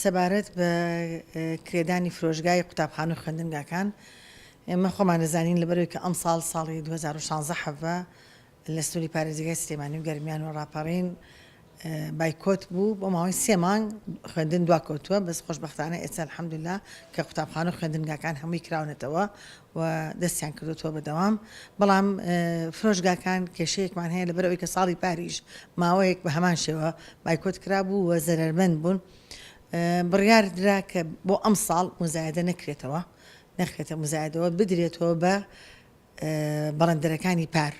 سەبارەت بە کرێدانی فرۆشگای قوتابخانە و خوێندنگاکان ئێمە خۆمان دەزانین لەبەرەوەی کە ئەمساڵ ساڵی 2016 حەڤە لە سنووری پارێزگای سلێمانی و گەرمیان و ڕاپەڕین بایکۆت بوو بۆ ماوەی سێ مانگ خوێندن دواکەوتووە بەس خۆشببختانە ئێستا الحەمدللا کە قوتابخانە و خوێندنگاکان هەمووی کراونەتەوە و دەستیان کردۆتەوە بە دەوام بەڵام فرۆشگاکان کێشەیەکمان هەیە لەبەر ئەوەی کە ساڵی پاریش ماوەیەک بە هەمان شێوە بایکۆت کرابوو و زەرەرمەند بوون بڕیار درا کە بۆ ئەم ساڵ مزایدە نەکرێتەوە نەخرێتە مزایدەوە بدرێتەوە بە بەڵندەرەکانی پار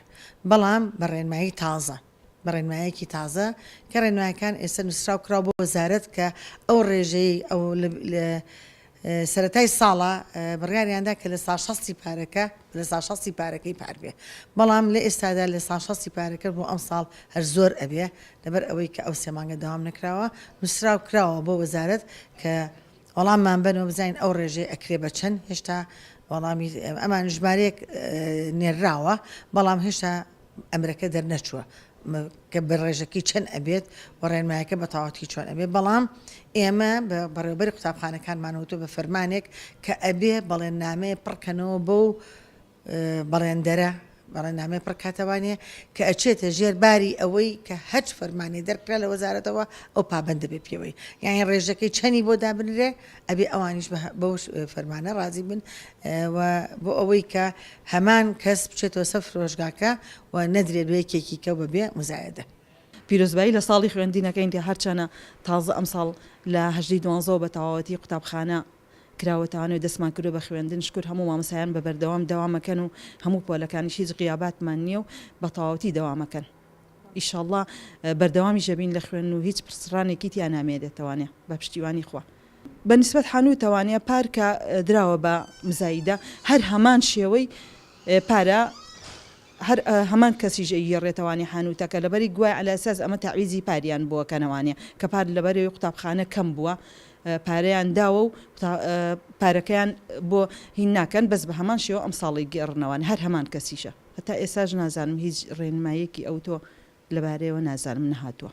بەڵام بە ڕێنمایی تازە بە ڕێنمایەکی تازە کە ڕێنمایەکان ئێستا نوسراو کراوە بۆ وەزارەت کە ئەو ڕێژەیەی ئەو لە سەرەتای ساڵە بڕیاریاندا کە لە ساشەستی پارەکە لە ساشەستی پارەکەی پار بێ بەڵام لە ئێستادا لە ساشەستی پارەکە بۆ ئەم ساڵ هەر زۆر ئەبێ لەبەر ئەوەی کە ئەو سێمانگە داوام نەکراوە نووسراو کراوە بۆ وەزارت کە وەڵاممان بنەوە بزانین ئەو ڕێژەی ئەکرێ بە چەند هێشتا وەڵامی ئەمان ژمارەیەک نێرراوە بەڵام هێشتا ئەمرەکە دەرنەچووە کە بەڕێژەکەی چەند ئەبێت و ڕێنمایەکە بە تەواوەتی چۆن ئەبێت بەڵام ئێمە بە بەڕێوبەری قوتابخانەکانمانەوەتۆ بە فەرمانێک کە ئەبێ بەڵێن نامەیە پڕکەنەوە بۆ و بەڕێندەرە بەڕێنامەی پڕکاتەوانە کە ئەچێتە ژێر باری ئەوەی کە هەچ فەرمانی دەرکرا لە وەزارەتەوە ئەو پابند دەبێت پێوەی یانی ڕێژەکەی چەنی بۆ دابنرێ ئەبێ ئەوانیش بەو فەرمانە ڕازی بن و بۆ ئەوەی کە هەمان کەس بچێتەوە سەر فرۆشگاکە و نەدرێت بە یەکێکی کە بە بێ مزایەدە. پیرۆزبایی لە ساڵی خوێندنەکەین کە هەرچەنە تازە ئەمساڵ لە هەژدەی دوانزەوە بە تەواوەتی قوتابخانە کراوەتەوانەوە دەستمان کردوە بە خوێندن شکور هەموو مامۆستایان بە بەردەوام دەوامەکەن و هەموو پۆلەکانیش هیچ غیاباتمان نیە و بە تەواوەتی دەوامەکەن. ئیشەڵا بەردەوامیش ئەبین لە خوێن و هیچ پرسڕانێکی تیا نامێ دەتوانێ بە پشتیوانی خوا. بە نسبەت حانووتەوانە پار کە دراوە بە مزایدە هەر هەمان شێوەی پارە هەر هەمان کەسیش ئەیگێڕێتەوانێ حانووتەکە لەبەری گوای عەلا ئەساس ئەمە تەعویزی پاریان بووە کەنەوانێ کە پار لەبەرەوەی قوتابخانە کەم بووە پارەیان داوە و پارەکەیان بۆ هین ناکەن بەس بە هەمان شێوە ئەمساڵی گێڕنەوان هەر هەمان کەسیشە. هەتا ئێستاش نازانم هیچ ڕێنماییەکی ئەوتۆ لەبارەیەوە نازانم نەهاتووە.